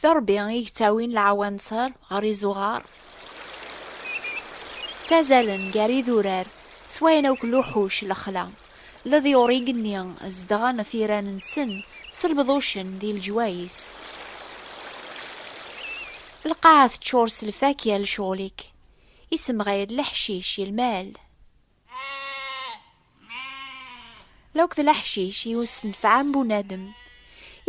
D Ṛebbi i yettawin lɛawanser ɣer izuɣar. Ttazalen gar idurar, swayen akk luḥuc, lexla, leḍyur igenni zedɣen ɣef yiran-nsen s lbeḍucen di leǧwayis. Lqaɛa teččur s lfakya lecɣel-ik, isemɣi d leḥcic yelmal. Lauk d leḥcic i ur s-tenfɛem bunadem.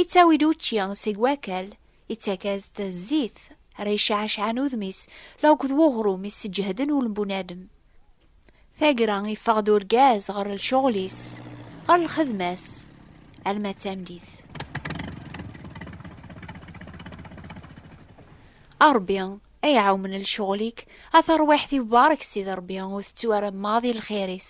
Ittawi-d učči seg wakal, ittak-as-d zzit, ara icɛacɛen udem-is, lauk d weɣrum i sseǧehden ul n bunadem. Tagra, iffeɣ-d urgaz ɣer lcuɣel-is, ɣer lxedma-s, alma d tameddit. A Rebbi, ay ɛawmen lecɣel-ik, a tarwiḥt-iw barek Sidi Rebbi, ur tettu ara maḍi lxir-is.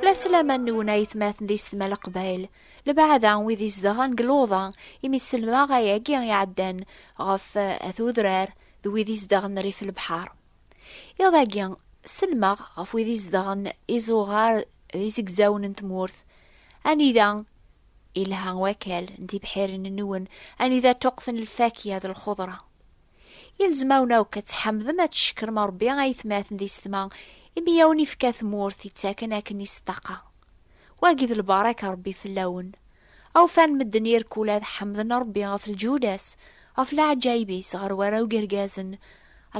La slama nwen ay tmaten di setma leqbayel, lbaɛda wid izedɣen deg luḍa, imi selmaɣ ayagi iɛeddan ɣef eh, at udrar d wid izedɣen rrif lebḥar. Iḍ agi, selmaɣ ɣef wid izedɣen izuɣar d izegzawen n tmurt, anida Ilha wakal n tibḥirin-nwen anida ṭuqten lfakya d lxudra. Ilzem-awen akk ad tḥamdem ad tcekkrem Rebbi ayetmaten di setma imi i awen-ifka tmurt ittaken akken i s-ṭaqa. Wagi d lbarak n Rebbi fell-awen. Awfan medden irkul ad ḥamden Rebbi ɣef lǧuda-s, ɣef leɛǧayeb-is ɣer warraw gergazen,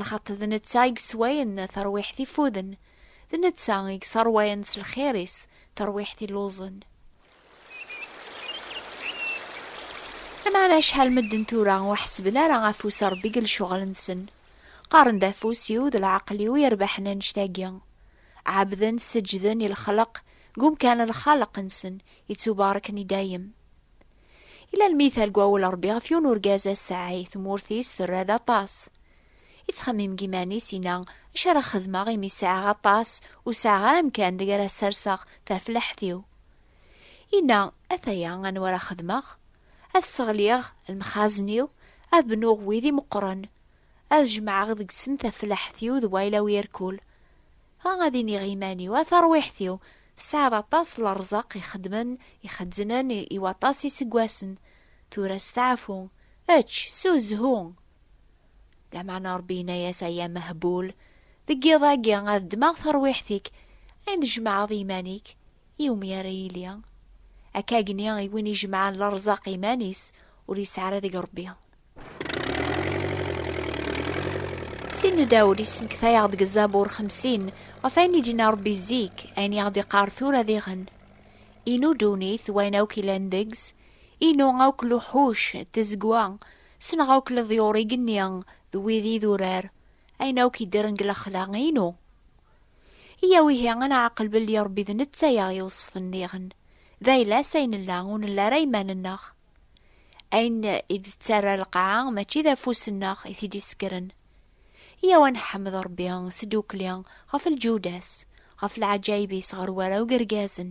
lxaṭ d netta i yesswayen tarwiḥt ifuden, d netta i yesserwayen s lxir-is tarwiḥt illuẓen. Aman acḥal medden tura ur ḥesben ara afus Rebbi deg lecɣal-nsen. Qqaren-d afus-iw d leɛqel-iw i yerbaḥen annect-agi. Ɛebden, seǧǧden i lexleq deg umkan n lxaleq-nsen ittubareken i dayem. Yella lmital deg wawel Rebbi ɣef yiwen urgaz ass-a ay tmurt-is terra d aṭas. Yettxemmim deg yiman-is, yenna, Acu ara xedmeɣ imi sɛiɣ aṭas, ur sɛiɣ ara amkan deg ara serseɣ tarfellaḥt-iw? Yenna, Ataya anwa ara xedmeɣ? Ad sseɣliɣ lemxazen-iw, ad bnuɣ wid imeqqren, ad jemɛeɣ deg-sen tafellaḥt-iw d wayla-w irkul. Dɣa ad iniɣ i yiman-iw, A tarwiḥt-iw, tesɛiḍ aṭas n ṛṛeẓq ixeddmen, ixezznen i waṭas n yiseggasen. Tura steɛfu, ečč, ssuzhu! Lameɛna Ṛebbi yenna-yas, Ay amehbul, deg yiḍ-agi ad ddmeɣ tarwiḥt-ik ayen tjemɛeḍ i yiman-ik, iwumi ara yili akka agni i win ijemɛen leṛzaq i yiman-is, ur yesɛi ara deg Ṛebbi? Sidna Dawed yessenkta-yaɣ-d deg Zzabur xemsin ɣef wayen i d-yenna Ṛebbi zik, ayen i aɣ-d-iqqar tura diɣen, Inu ddunit d wayen akk yellan deg-s, inu akk luḥuc d tazegwa, Ssneɣ akk leḍyur-ig-nni d wid idurar, ayen akk yeddren deg lexla, inu. Iyyaw ihi ad neɛqel belli Ṛebbi d netta i aɣ-iweṣṣfen diɣen, d ayla-s ay nella, ur nelli ara iman-nneɣ. Ayen i d-tettarra lqaɛa mačči d afus-nneɣ i t-id-isekkren. Iyyaw ad nḥemmed Ṛebbi s tdukli ɣef lǧuda-s, ɣef lɛaǧayeb-is ɣer warraw d yergazen.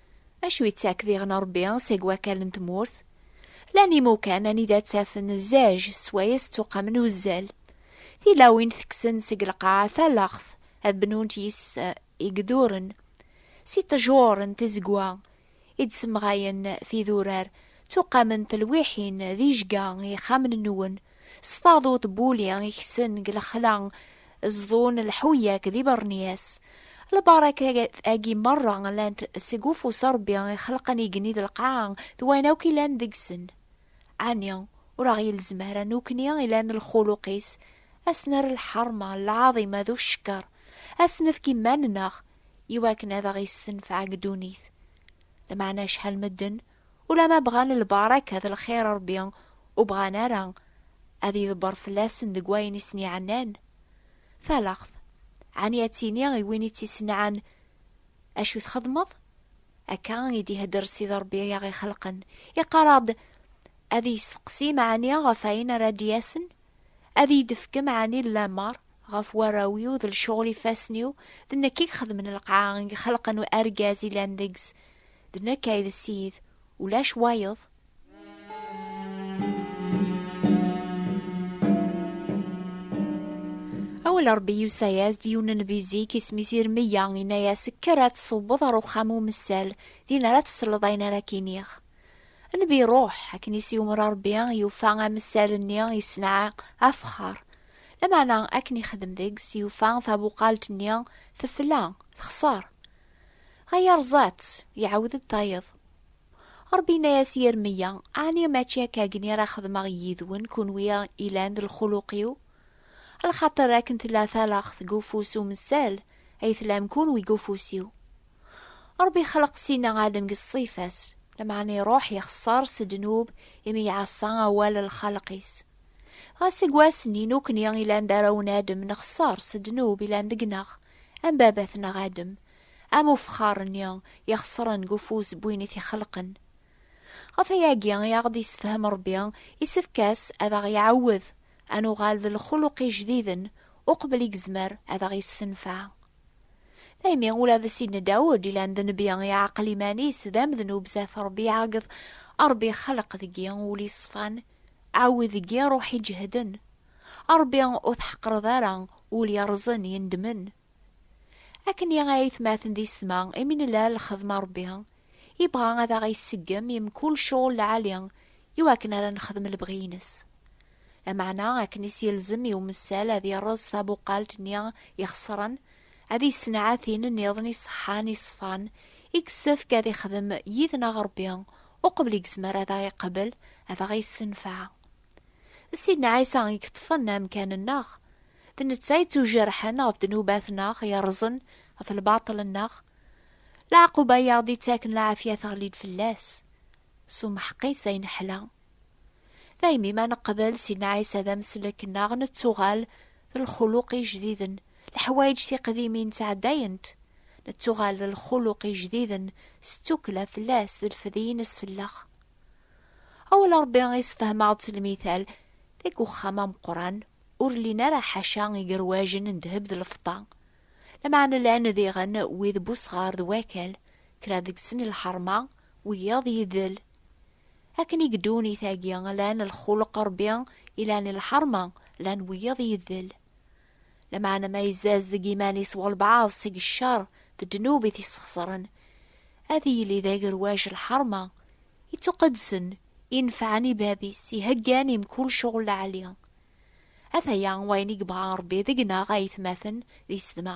Acu yettak diɣen Ṛebbi seg wakal n tmurt? Llan imukan anida ttafen zzaj swayes ttuqamen uzzal. Tilawin tekksen seg lqaɛa talaɣt ad bnunt yis-s igduren. Si ṭṭjur n tizegwa i d-semɣayen tidurar, ttuqament telwiḥin d ijga i yixxamen-nwen, S taduṭ n wuli i kksen deg lexla ẓḍun lḥuyak d ibernyas. Lbaṛakat-agi meṛṛa llant seg ufus n Ṛebbi i xelqen igenni d lqaɛa d wayen akk yellan deg-sen. Ɛni ur aɣ-yelzem ara nukni ilan d lxuluq-is ad s-nerr lḥeṛma, lɛaḍima d ucekker, ad s-nefk iman-nneɣ iwakken ad aɣ-yessenfeɛ deg ddunit? Lmeɛna acḥal medden Ulamma bɣan lbaraka d lxir Ṛebbi ur bɣan ara ad yeḍber fell-asen deg wayen i sen-iɛennan. Talaɣt, ɛni ad tini i win i tt-isenɛan, Acu txedmeḍ? Akka i d-ihedder Sidi Ṛebbi i aɣ-ixelqen. Iqqar-aɣ-d ad isteqsi meɛni ɣef ayen ara d-yasen? Ad iyi-d-tefkem ɛni lamer ɣef warraw-iw d lecɣel ifassen-iw, d nekk i ixedmen lqaɛa i ixelqen argaz ilan deg-s, d nekk ay d Ssid, ulac wayeḍ? Awal n Rebbi yusa-as-d i yiwen n nnbi zik, isem-is Irmiya, yenna-as, Kker ad tṣewweḍ ɣer uxxam umessal, din ara tesleḍ ayen ara k-iniɣ. Nnbi iruḥ, akken i s-yummer Rebbi, yufa amessal-nni yessenɛa afexxar. Lameɛna akken ixdem deg-s, yufa tabuqalt-nni tefla, texṣer. Dɣa yerẓa-tt, iɛawed-d tayeḍ. Rebbi yenna-yas i Yermiya, Ɛni mačči akka akken ara xedmeɣ yid-wen kunwi ilan d lxuluq-iw? Lxaṭer akken tella talaxt deg ufus umessal, ay tlam kunwi deg ufus-iw. Ṛebbi ixleq Sina Adem deg ṣṣifa-s, lameɛna iṛuḥ yexṣer s ddnub imi iɛaṣa awal n lxaleq-is. Dɣa seg wass-nni nukni ilan d arraw n Adem nexṣer s ddnub ilan deg-neɣ, am baba-tneɣ Adem, am ufexxaṛ-nni ixeṣren deg ufus n win i t-ixelqen. Ɣef wayagi i aɣ-d-yessefhem Ṛebbi isefk-as ad aɣ-iɛawed ad nuɣal d lxuluq ijdiden uqbel i yezmer ad aɣ-yessenfeɛ. Imi ula d Sidna Dawed ilan d nnbi iɛeqel iman-is d amednub zat Rebbi iɛeggeḍ, Rebbi ixelleq deg-i ul iṣfan, ɛawed deg-i ṛuḥ iǧehden. A Rebbi ur tḥeqqreḍ ara ul yerrẓen yendmen. Akken i aytmaten d isetma imi nella lxedma Rebbi ibɣa ad aɣ-iseggem i mkul cɣel lɛali i wakken ara nexdem lebɣi-ines. Lameɛna, akken i s-yelzem i umessal ad yerreẓ tabuqalt-nni ixeṣren, ad yessenɛat tin nniḍen iṣeḥḥan, iṣfan, i yessefk ad ixdem yid-neɣ Rebbi, uqbel i yezmer ad aɣ-iqbel, ad aɣ-yessenfeɛ. D Sidna Ɛisa i yeṭṭfen amkan-nneɣ. D netta i ttujerḥen ɣef ddnubat-nneɣ, yerrẓen ɣef lbaṭel-nneɣ. Leɛquba i aɣ-d-ittaken lɛafya teɣli-d fell-as. S umeḥq-is ay neḥla. Daymi ma neqbel Sidna Ɛisa d ameslek-nneɣ, nettuɣal d lxuluq ijdiden. Leḥwayeǧ tiqdimin ttɛeddayent, nettuɣal d lxuluq ijdiden s ttukkla fell-as d lfed-ines fell-aɣ. Awal n Ṛebbi isefhem-aɣ-d s lmithal, deg uxxam ameqqran, ur llin ara ḥaca igerwajen n ddheb d lfeṭṭa, lameɛna llan diɣen wid n wesɣar d wakal, kra deg-sen i lḥeṛma, Wiyaḍ yidel. Akken i ddunit-agi lan lxulq Ṛebbi i lan lḥeṛma, lan wiyaḍ yidel. Lameɛna ma yezzaz deg yiman-is walbeɛḍ seg cceṛ d ddnub i t-isxeṣren, ad yili d agerwac lḥeṛma, ittuqedsen, inefɛen i bab-is, iheggan i mkul cɣel lɛali. Ataya wayen i yebɣa Ṛebbi deg-neɣ a yetmaten di sdma.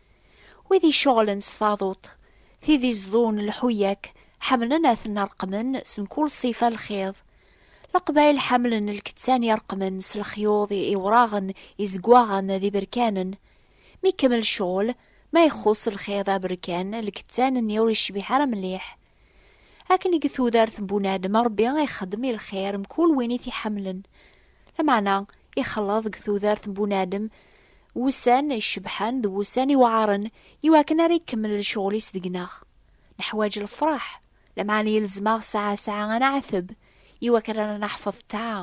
Wid iceɣlen s taḍuṭ, tid iẓḍun lḥuyak ḥemlen ad ten-reqmen s mkul ṣṣifa lxiḍ. Leqbayel ḥemlen lkettan ireqmen s lexyuḍ iwraɣen, izegwaɣen d iberkanen. Mi ikemmel ccɣel, ma ixxuṣ lxiḍ aberkan, lkettan-nni ur icbiḥ ara mliḥ. Akken i deg tudert n bunadem Ṛebbi ixeddem i lxir mkul win i t-iḥemlen, Lameɛna, ixleḍ deg tudert n bunadem wussan icebḥen d wussan iweɛren i wakken ara ikemmel lecɣel-is deg-neɣ. Neḥwaǧ lefraḥ, lameɛna yelzem-aɣ saɛa saɛa ad neɛteb i wakken ara naḥfeḍ ṭṭaɛa,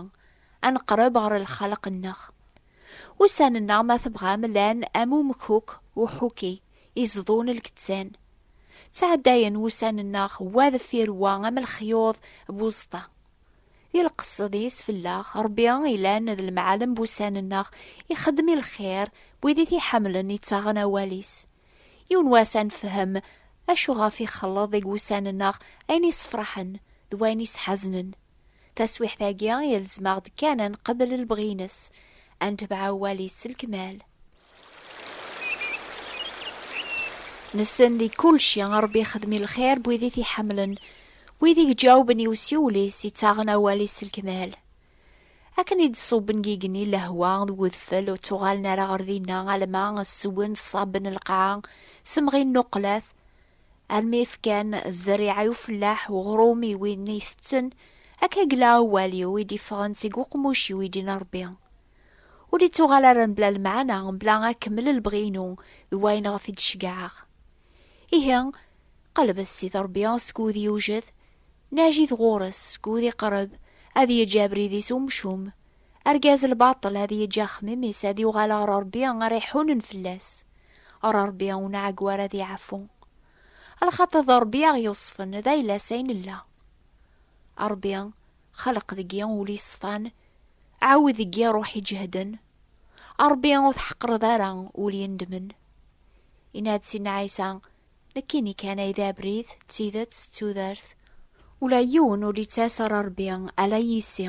ad neqreb ɣer lxaleq-nneɣ. Ussan-nneɣ, ma tebɣam, llan am umkuk uḥuki iẓḍun lkettan. Ttɛeddayen wussan-nneɣ wa deffir wa am lexyuḍ n uẓeṭṭa. I lqesed i is fellaɣ, Rebbi ilan d lemɛalem n wussan nneɣ, ixeddem i lxir n wid i t-iḥemlen ittaɣen awal-is. Yiwen wass ad nefhem acu ɣef ixelleḍ deg wussan nneɣ ayen isefraḥen d wayen isḥaznen. Taswiḥt agi ilzem-aɣ-d kan ad nqebel lebɣi ines, ad netbeɛ awal-is s lkmal. Nessen di kulci Ṛebbi ixdem i lxir n wid i t-iḥemmlen, wid i iǧawben i usiwel-is, ittaɣen awal-is s lekmal. Akken i d-ṣubben deg igenni lehwa d wedfel, ur ttuɣalen ara ɣer dinna alamma sswen ṣṣaben lqaɛa, semɣin nnuqlat, almi fkan zzeriɛa i ufellaḥ, uɣrum i win itetten, akka yella awal-iw i d-iffɣen seg uqmuc-iw i d-yenna Ṛebbi. Ur ittuɣal ara mebla lemɛana, mebla akemmel lebɣi-inu d wayen ɣef i d-ceggɛeɣ. Ihi, qelbet Ssid Ṛebbi seg wud yewjed, najit ɣur-s seg wud iqreb, ad yeǧǧ abrid-is umcum, argaz n lbaṭel ad yeǧǧ axemmim-is ad yuɣal ɣer Ṛebbi ara iḥunen fell-as, ɣer Ṛebbi ur nɛeggu ara ad iɛeffu. Lxaṭer d Ṛebbi i aɣ-yuṣṣfen, d ayla-s ay nella. A Ṛebbi, Xleq deg-i ul yeṣfan, ɛawed deg-i ṛṛuḥ iǧehden. A Ṛebbi, ur tḥeqqreḍ ara ul yendmen. Yenna-d Sidna Ɛisa, Nekkini kan ay d abrid, d tidet, d tudert. Ula yiwen ur d-yettas ɣer Ṛebbi, ala yis-i.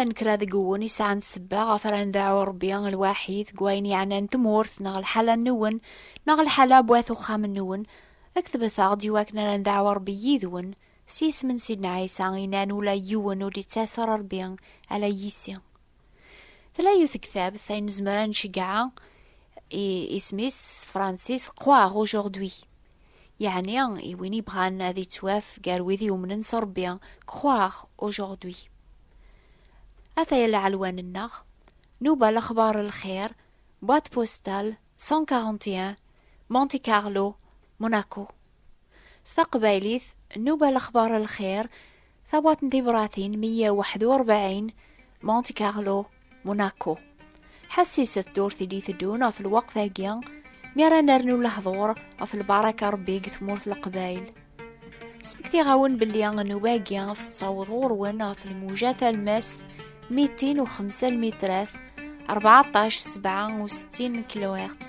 Llan kra deg wun i sɛan sebba ɣef ara ndeɛɛu Ṛebbi lwaḥid deg wayen yeɛnan tmurt neɣ lḥala-nwen neɣ lḥala n wat uxxam-nwen, ketbet-aɣ-d i wakken ara ndeɛɛu Ṛebbi yid-wen, s yisem n Sidna Ɛisa i nan ula yiwen ur d-yettas ara Ṛebbi, ala yis-i. Tella yiwet tektabt ay nezmer ad nceggeɛ isem-is s tefṛensist Croix Rouge Aujourd'hui, yeɛni i win yebɣan ad yettwaf gar wid yumnen s Ṛebbi, Croire aujourd'hui. Ataya lɛelwan-nneɣ, Nuba Lexbaṛ n Lxir, Boîte Postale 141, Monte Carlo, Monaco. S taqbaylit, Nnuba Lexbar Lxir, Tabwaḍt n Tibṛatin 141, Monte Carlo, Monaco. Ḥessiset d ur tili teddun ɣef lweqt-agi mi ara nernu lehḍur ɣef lbaraka Ṛebbi deg tmurt Leqbayel. Smektiɣ-awen belli nnuba-agi tettaweḍ ɣur-wen ɣef lmuja talmast 205 lmitrat, 14 67 kilohertz.